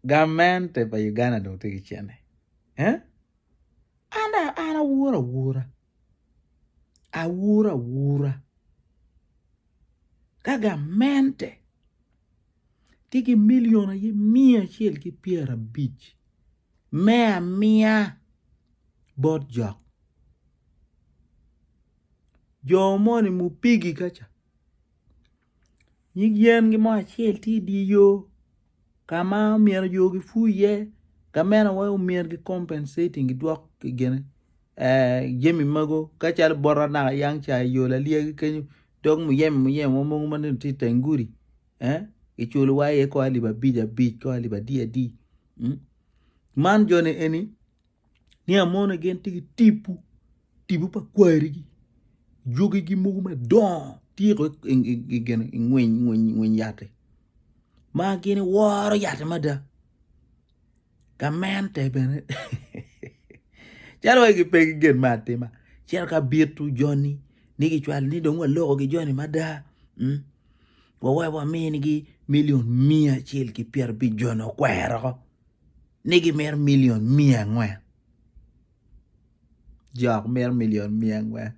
Gamente pa Uganda dong tye ki cente. Eh? An an awur awura. Awur awura. Ka gamente tye ki milion aye miya acel ki pyera bic me amiya bot jok jo moni ma opigi ka ca nyig yen gi mo acel tye i dye yo ka ma myero yo gipur iye gamente wa myero gi compensating gidwok gine jami mogo calo bot anaka yang ca i yo lalyagi kenyo dog muyeme muyeme wa mogo ma dong tye i teng gudi kiculo wa iye kong alip abic abic kong alip adi adi. Man joni eni nia moni gin tye ki tipo tipo pa kwarigi jogigi mogo madongo tye kono i ngweny yat-ti ma gin woro yat-ti mada gamente bene calo wai pe gin me atima cito ka bito joni ni gicwalo ni dong walokogi joni mada. Wawai waminigi milion miya acel ki pyerabic-joni okweroko ni gimito milion miya angwen. Jok mito milion miya angwen.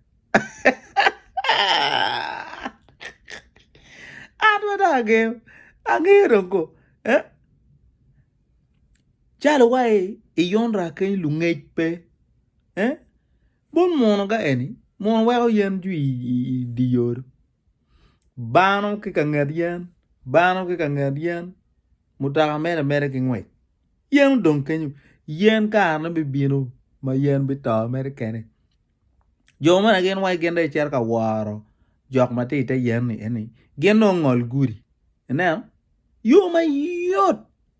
An ma dong angeyo, angeyo dong ko. Eh? Calo wa i, i yonra keny lungec pe. Eh? Bol mono ga eni, mono weko yen jwi i, i, i di yodo. Bano ki ka nget yen, bano ki ka nget yen, mutoka mere mere ki ngwec. Yen odong kenyo, yen karene bibino ma yen bito mere kene. Jo mene gin wai gin dong gicito ka woro jok ma tye ite yen-ni eni, gin dong ongol gudi. Ineno? Yo mayot!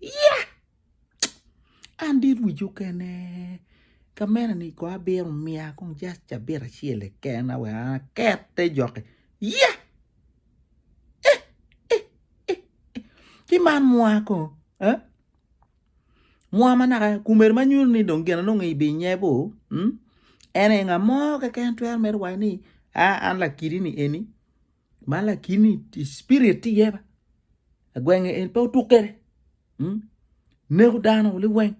ya an dit wic okene ka mene ni ko abino miya kong just cabit acel keken-na wek an aket te joki ya eh eh eh ci man mwa kong eh mwa ma naka kumeni ma nyuto ni dong gin anongo i bim nye bo en aye nga mo keken twero mere waco ni an lakidi ni eni Man lakini i spirit tye iye agwenge en pe otuk kwede hmm? neko dano liweng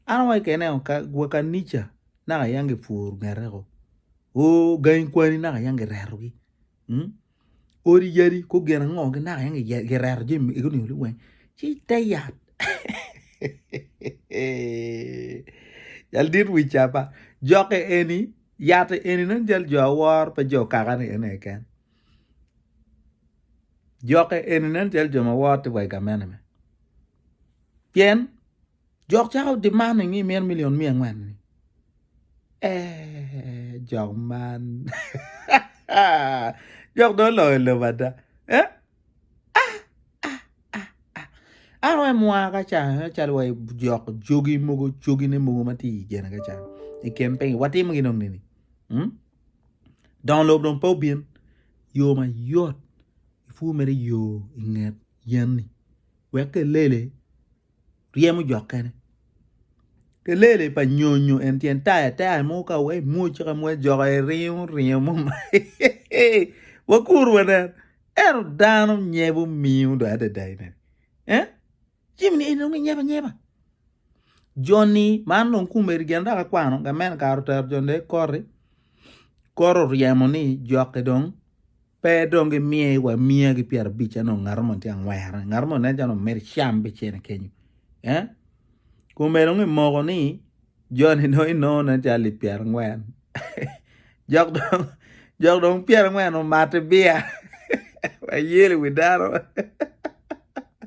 an awaco kene o ka gwa kanica naka yam gipworo ngete ko o gangi kwani naka yam giretogi hmm? odi yadi ko gin ango gi naka yam giye- gireto jami magi onongo liweng ci te yat jal dit wi cama jokke eni Yat eni nongo jal jo awor pe jo kaka ni en aye keken. Jokke eni nen jal jo ma wor tye wa i gamente me. Pien jok cako demand ni mito million miya angwen ni. Eeh jok man jok dong oloyo lobo ada. Eh Ah ah ah ah. Ano en mwa ka can en calo wa jok jogi mogo jogi ne mogo ma ti jene ka can. I kem pengi wa timo gi nong nini. Hmm? Don lob don pa obin yo ma yot. Fu mere yo inget yen ni. Wek ke lele ryemo jokkene kelele pa nyonyo en tyen taya taya mo ka wai mwoc ka mwoc joko aye ringo ringo mo ma wakur wanen ento dano nyebo miyo dong adada ine eh jami ni eni dong ginyebo anyeba joni man dong kumeri gin dok akwano gamente kare otero joni dong ikoti koro ryemo ni jokke dong Pe dong gimiye wa miya gi pyera bic eno ngato mo tye angwera ngato mo nen calo mere cam be cene kenyo eh kume dong imoko ni joni dong inongo nen calo lip pyera angwen jok dong jok dong pyera angwen omate biya ayel i wi dano